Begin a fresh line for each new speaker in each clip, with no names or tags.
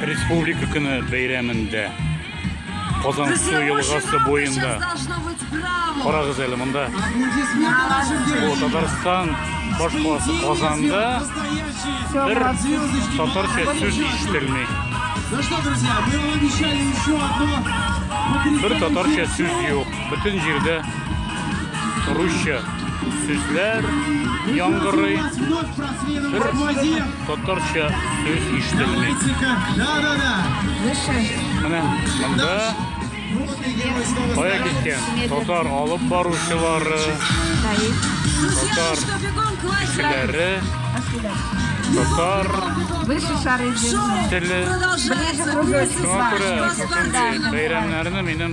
Республика көне бәйрәмендә Казан су елгасы буенда карагыз әле монда бу Татарстан баш қаласы Казанда бер татарча сүз ишетелми бер татарча сүз юк Бөтен җирдә русча сүзләр яңгырый. Бер татарча сүз ишетелми. Менә монда кая киткән татар алып баручылары, татар кешеләре, татар теле. Шуңа күрә шушындый бәйрәмнәрне минем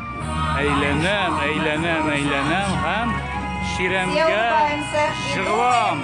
Әйләнәм, әйләнәм, әйләнәм һәм чирәмгә жыгылам.